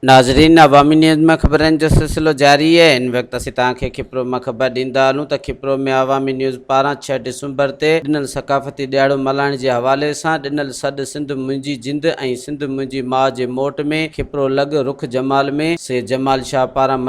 ناظرين عوامي نيوز ۾ خبرن جو سلسلو جاري آهي ان وقت اسين توهان کي کپرو مان خبر ڏيندا هلون ته کپرو ۾ عوامي نيوز پاران ڇهه ڊسمبر تي ڏنل ثقافتي ڏيهاڙو ملهائڻ جي حوالي سان ڏنل سڏ سنڌ منهنجي جند ۽ سنڌ منهنجي ماء جي موٽ ۾ کپرو لڳ رخ جمال ۾ سيد جمال شاهه پاران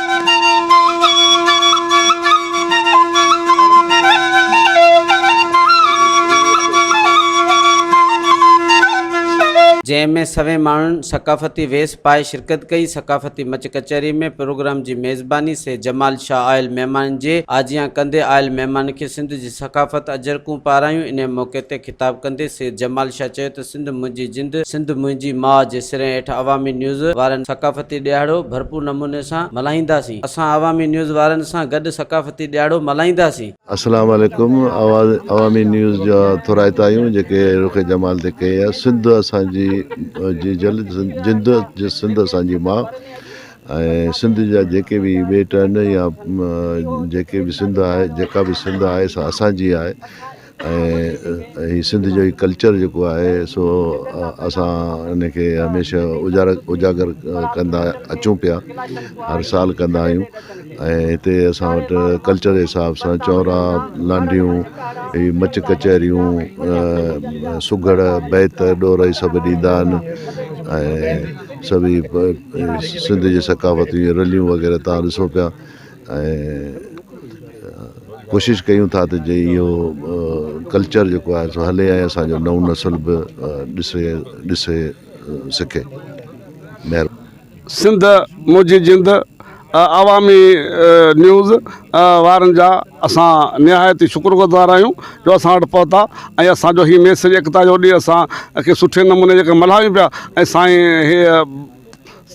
جنهن ۾ سوين ماڻهن ثقافتي ويس پائي شرڪت ڪئي، ثقافتي مچ ڪچهري ۾ پروگرام جي ميزباني سيد جمال شاهه آيل مهمانن جي آجيان ڪندي آيل مهمانن کي سنڌ جي ثقافت اجرڪون پارايون، انهيء موقعي تي خطاب ڪندي سيد جمال شاهه چيو ته سنڌ منهنجي جند سنڌ منهنجي ماء جي سرين هيٺ عوامي نيوز وارن ثقافتي ڏيهاڙو ڀرپور نموني سان ملهائينداسين اسان عوامي نيوز وارن سان گڏ ثقافتي ڏيهاڙو ملهائينداسين. السلام عليڪم آواز عوامي نيوز جا ٿورائتا آهيون جيڪي رخ جمال تي ڪئي آهي سنڌ اسان جي جي جل جند سنڌ اسان جي ماء ۽ سنڌ جا جيڪي به ٻيٽ آهن يا جيڪي به سنڌ آهي جيڪا به سنڌ آهي سا اسان جي آهي ۽ هي سنڌ جو هي ڪلچر جيڪو آهي سو اسان ان کي هميشه اجارا اجاگر ڪندا اچون پيا هر سال ڪندا آهيون ۽ هتي اسان وٽ ڪلچر جي حساب سان چونرا لانڍيون هي مچ ڪچهريون سگهڙ بيت ڏور هي سڀ ڏيندا آهن ۽ سڀ هي سنڌ جي ثقافت جي رليون وغيره تان ڏسو پيا ۽ ڪوشش ڪيون ٿا ته جي اهو ڪلچر جيڪو آهي سو هلي ۽ اسان جو نئون نسل به ڏسي ڏسي سکي مهرباني. سنڌ منهنجي جند عوامي نيوز وارن جا اسان نهايت ئي شڪر گذار آهيون جو اسان وٽ پهتا ۽ اسان جو هي ميسج ايڪتا جو ڏي اسان کي سٺي نموني جيڪا ملهايون پيا ۽ سائين هي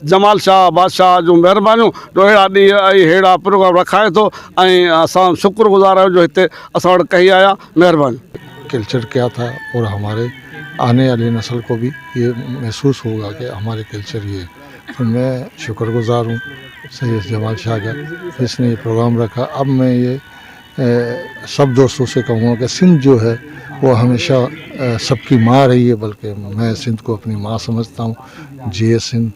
جمال شاهه بادشاهه جون مهربانيون جو اهڙا ڏينهن ۽ اهڙا پروگرام رکائي ٿو ۽ اسان شڪر گذار آهيون جو هتي اسان وٽ ڪهي آيا مهرباني. ڪلچر ڪيا ٿا اور هماري آني والي نسل ڪو ڀي هي محسوس هوگا ڪي هماري ڪلچر هي تو مي شڪر گذار هون سيد جمال شاهه جا جس ني هي پروگرام رکا اب مي هي سڀ دوستون سي ڪهون ها ڪي سنڌ جو هي وو هميشه سڀ ڪي مان رهي هي بلڪه مين سنڌ ڪو اپني مان سمجهتا هون جيئي سنڌ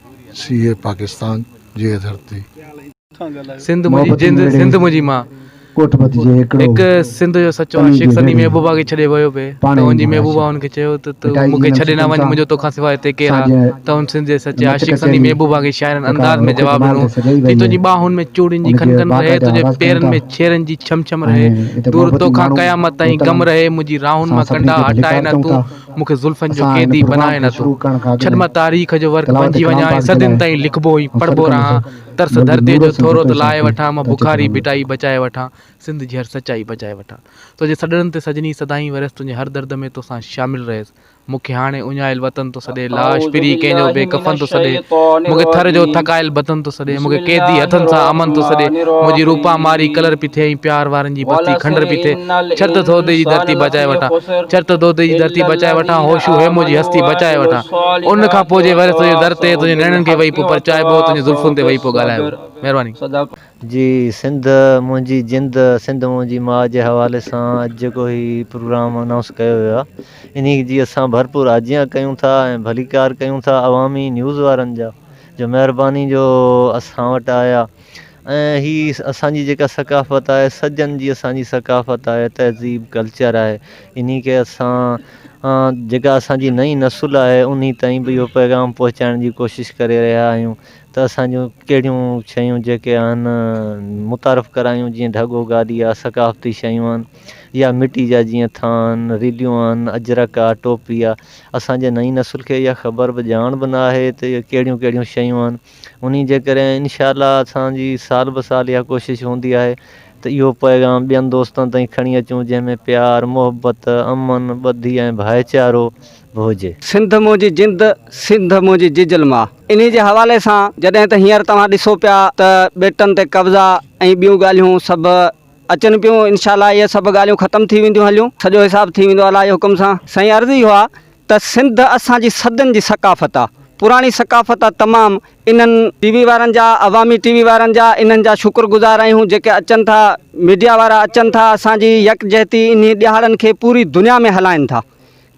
سيئي پاڪستان جيئي ڌرتي. سنڌ منهنجي جند سنڌ منهنجي مان. هڪ سنڌ جو سچو عاشق سندي محبوبا کي ڇڏي ويو پئي ته هن جي محبوبا هن کي چيو ته تون مون کي ڇڏي نه وڃ منهنجو تو کان سواء هتي ڪير آهي ته هن سنڌ جي سچي عاشق سندي محبوبا کي شاعرانه انداز ۾ جواب ڏنو ٿي تنهنجي ٻانهن ۾ چوڙين جي کنڪن رهي تنهنجي پيرن ۾ شيرن جي ڇم ڇم رهي دور توکان قيامت تائين غم رهي منهنجي راهن مان ڪنڊا هٽائي نه تون مون کي زلفن جو قيدي بنائي نه تون ڇڏ مان تاريخ جو ورق بنجي وڃان ۽ صدين تائين لکبو ۽ پڙهبو رهان ترس ڌرتيء جو ٿورو ته لاهي وٺان مان بخاري ڀٽائي بچائي وٺان سنڌ جي هر سچائي بچائي وٺان تنهنجي سڏڻن تي سڄڻي سدائين ورهيس تنهنجي هر درد ۾ توسان شامل رهيس مون کي هاڻي اڃايل وطن ٿو سڏي لاش پري ڪنهن جو بي ڪفن ٿو سڏي مون کي ٿر جو ٿڪايل بطن ٿو سڏي مون کي قيدي هٿن سان امن ٿو سڏي منهنجي روپا ماري ڪلر پي ٿئي ۽ پيار وارن جي بستي کنڊر پي ٿئي ڇت دودي جي ڌرتي بچائي وٺان ڇت دودي جي ڌرتي بچائي وٺان هوشو هيمو جي هستي بچائي وٺان ان کان پوء جي وري تنهنجي در تي تنهنجي نيڻن کي ويهي پيو پرچائبو تنهنجي زلفن تي ويهي پيو ڳالهائبو مهرباني. جي سنڌ منهنجي جند سنڌ منهنجي ماء جي حوالي سان اڄ جيڪو هي پروگرام انائونس ڪيو ويو آ انهي جي اسان ڀرپور آجيان ڪيون ٿا ۽ ڀليڪار ڪيون ٿا عوامي نيوز وارن جا جو مهرباني جو اسان وٽ آيا ۽ هي اسان جي جيڪا ثقافت آهي سجن جي اسان جي ثقافت آهي تهذيب ڪلچر آهي انهي کي اسان جيڪا اسان جي نئي نسل آهي انهي تائين به اهو پيغام پهچائڻ جي ڪوشش ڪري رهيا آهيون ته اسان جون ڪهڙيون شيون جيڪي آهن متعارف ڪرايون جيئن ڍڳو گادي آ ثقافتي شيون آهن يا مٽي جا جيئن ٿانء ريليون آهن اجرڪ آ ٽوپي آ اسان جي نئين نسل کي اها خبر به ڄاڻ به نه آهي ته اهي ڪهڙيون ڪهڙيون شيون آهن انهي جي ڪري انشاء الله اسان جي سال به سال اها ڪوشش هوندي آهي ته اهو پيغام ٻين دوستن تائين کڻي اچون جنهن ۾ پيار محبت امن ٻڌي ۽ ڀائيچارو ڀوڄ. سنڌ منهنجي جند، سنڌ منهنجي ججل ماء. انهي جي حوالي سان جڏهن ته هينئر توهان ڏسو پيا ته ٻيٽن تي قبضا ۽ ٻيون ڳالهيون سڀ اچن پيون انشاء الله اهي سڀ ڳالهيون ختم ٿي وينديون هليون سڄو حساب ٿي ويندو الله جي حڪم سان. سائين عرض اهو آ ته سنڌ اسان جي صدين جي ثقافت آ پراڻي ثقافت آ تمام انهن ٽي وي وارن جا عوامي ٽي وي وارن جا انهن جا شڪر گذار آهيون جيڪي اچن ٿا ميڊيا وارا اچن ٿا اسان جي يڪجهتي انهي ڏهاڙن کي پوري دنيا ۾ هلائين ٿا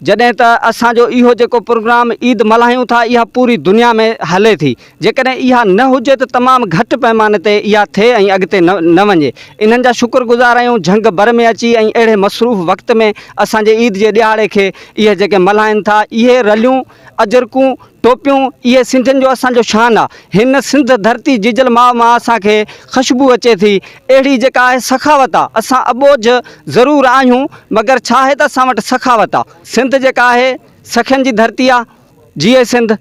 جڏهن ته اسان جو اهو جيڪو پروگرام عيد ملهايون ٿا اها پوري دنيا ۾ هلي ٿي جيڪڏهن اها نه هجي ته تمام گهٽ پئماني تي اها ٿئي ۽ اڳتي نه وڃي انهن جا شڪر گذار آهيون جهنگ بر ۾ اچي ۽ اهڙي مصروف وقت ۾ اسان جي عيد جي ڏهاڙي کي اهي جيڪي ملهائن ٿا اهي رليون اجرڪون ٽوپيون اهي سنڌين جو اسان جو شان آ. هن سنڌ ڌرتي جيجل ماء مان اسان کي خشبو اچي ٿي اهڙي جيڪا آهي سخاوت آ. اسان اٻوجهه ضرور آهيون مگر ڇا آهي ته اسان وٽ سخاوت آ. سنڌ جيڪا آهي سخين جي ڌرتي آ. جيئي سنڌ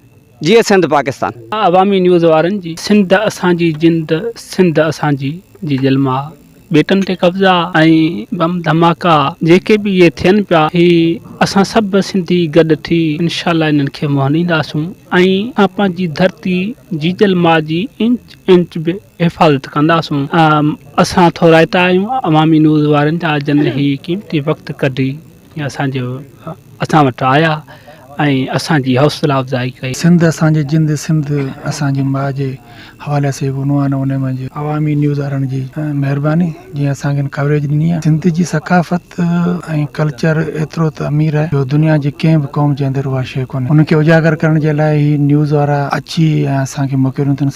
جيئي سنڌ پاڪستان. عوامي نيوز وارن جي سنڌ اسان جي جند سنڌ اسان جي جيجل ماء. ٻيٽن تي قبضا ۽ بم ڌماڪا جيڪي به اهي ٿين پيا هي اسان سڀ سنڌي گڏ ٿي انشاء الله انهن کي مهنينداسون ۽ پنهنجي ڌرتي جيجل ماء جي انچ انچ به حفاظت ڪنداسون اسان ٿورائتا آهيون عوامي نيوز وارن جا جن هي قيمتي وقت ڪڍي اسان جي اسان وٽ آيا ۽ اسان جي حوصلا افزائي ڪئي. سنڌ اسان جي جند سنڌ اسان جي ماء جي حوالي سان هڪ عنوان هو انهي منجهه عوامي نيوز وارن جي مهرباني جنهن اسان کي ان ڪوريج ڏني آهي سنڌ جي ثقافت ۽ ڪلچر ايترو ته امير آهي جو دنيا جي ڪنهن به قوم جي اندر اها شيء ڪونهي ان کي اجاگر ڪرڻ جي لاء هي نيوز وارا اچي ۽ اسان کي موقعو ڏنو اٿن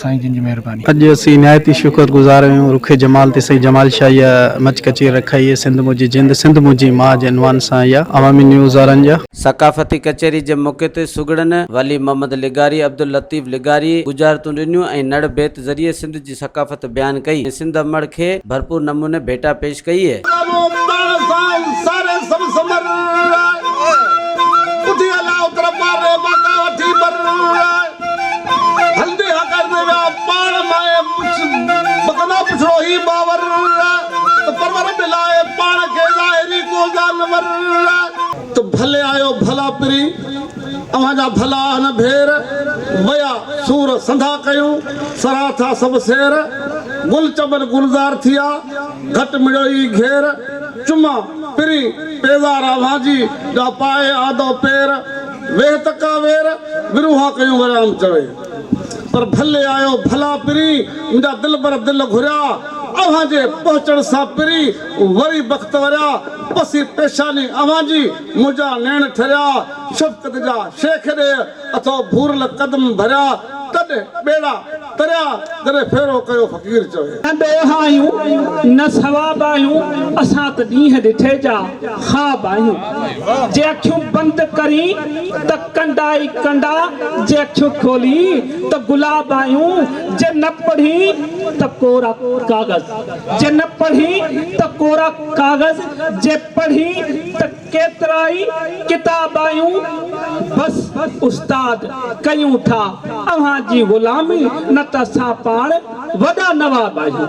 سائين جن جي مهرباني. اڄ اسين نهايت ئي شڪر گذار آهيون رخي جمال تي سائين جمال شاهه اها مچ ڪچيري رکائي هي سنڌ منهنجي جند سنڌ منهنجي ماء جي عنوان سان اها عوامي نيوز وارن جا ثقافتي ڪچهري جي موقعي تي سگهڙن ولي محمد لغاري، عبداللطيف لغاري، ڳجهارتون ڏنيون ۽ نڙ بيت ذريعي سنڌ جي ثقافت بيان ڪئي ۽ سنڌ امڙ کي ڀرپور نموني ڀيٽا پيش ڪئي. هلندي ها ڪرندي ويا پاڻ ماهي مڪنا پڇڙو هي باور ته پرور به لاهي پاڻ کي ظاهري ڪو جانور ته ڀلي آيو ڀلا پري اوهان جا ڀلا آهن ڀير ويا سور سنڌا ڪيون سران ٿا سڀ سير گل چمن گلزار ٿيا گهٽ مڙيو ئي گهير چما پرين پيزار اوهان جي جا پائي آندو پير ويهه تکا وير وروها ڪيون وريام چوي پر ڀلي آيو ڀلا پرين منهنجا دلبر دل گهريا اوهان جي پهچڻ سان پرين وري بخت وريا پسي پيشاني اوهان جي منهنجا نيڻ ٺريا شفقت جا شيخ ڏيهه اٿو ڀورل قدم ڀريا تڏ ٻيڙا تريا جڏهن ڦيرو ڪيو فقير چوي. نه ڏوهه آهيون نه ثواب آهيون اسان ته ڏينهن ڏٺي جا خواب آهيون جي اکيون بند ڪرين ته ڪنڊا ئي ڪنڊا جي اکيون کولين ته گلاب آهيون جي نه پڙهين ته ڪورا ڪاغذ جي نه پڙهين ته ڪورا ڪاغذ جي پڙهين ته ڪيترائي ڪتاب آيون بس استاد ڪيون ٿا اوهان جي غلامي نه ته اسان پاڻ وڏا نواب آهيون.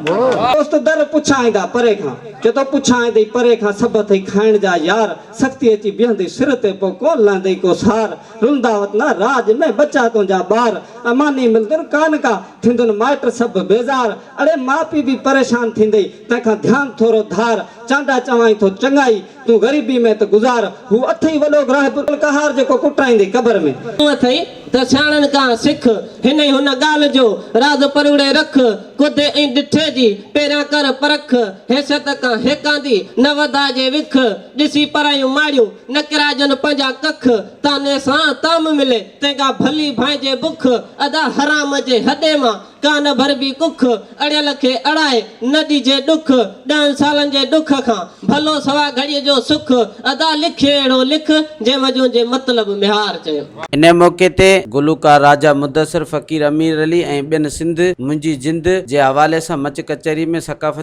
دوست در پڇائيندا پري کان. چي ٿو پڇائيندئي پري کان سڀ اٿئي کائڻ جا يار سختي اچي بيهندئي سر تي پوء ڪونه لهندئي ڪو سار رلندا وطنا راڄ ۾ ٻچا تنهنجا ٻار اماني ملندن ڪانه ڪا ٿيندن مائٽ سڀ بيزار اڙي ماء پيء به پريشان ٿيندئي تنهن کان ڌيان ٿورو ڌار چانڊا چوائين ٿو چڱائي تون غريبي ۾ ته گذار. هو اٿئي وڏو گراهب القهار جيڪو ڪٽرائيندي قبر ۾. تون اٿئي ته سياڻن کان سک. هن ئي هن ڳالهه جو راز پروڙي رک. ڪوڌي ۽ ڊٺي جي پهريان ڪر پرک. حيثيت کان هيڪاندي نه وڌائجي وک. ڏسي پرايون ماڙيون نه ڪرايجن پنهنجا ڪک. طعني سان طعم ملي تنهن کان ڀلي ڀانئجي بک. ادا حرام جي هڏي مان ڪانه ڀربي ڪک، اڙيل کي اڙائي نه ڏجي ڏک، ڏهن سالن جي ڏک کان، ڀلو سوا گهڙيء جو سک، ادا لک اهڙو لک، جنهن وجون جي مطلب ميهار چئي. انهيء موقعي تي گلوڪار راجا مدثر، فقير امير علي ۽ ٻين سنڌ، منهنجي جند جي حوالي سان مچ ڪچهري ۾ ثقافت.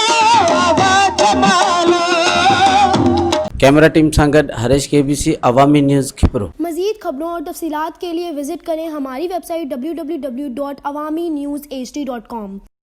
ڪيمرا ٽيم سان گڏ Harish K B C Awami news Khipro. مزيد خبرون اور تفصيلات کے لئے وزٽ ڪرين ھماري ويب سائيٽ www.awaminews.hd.com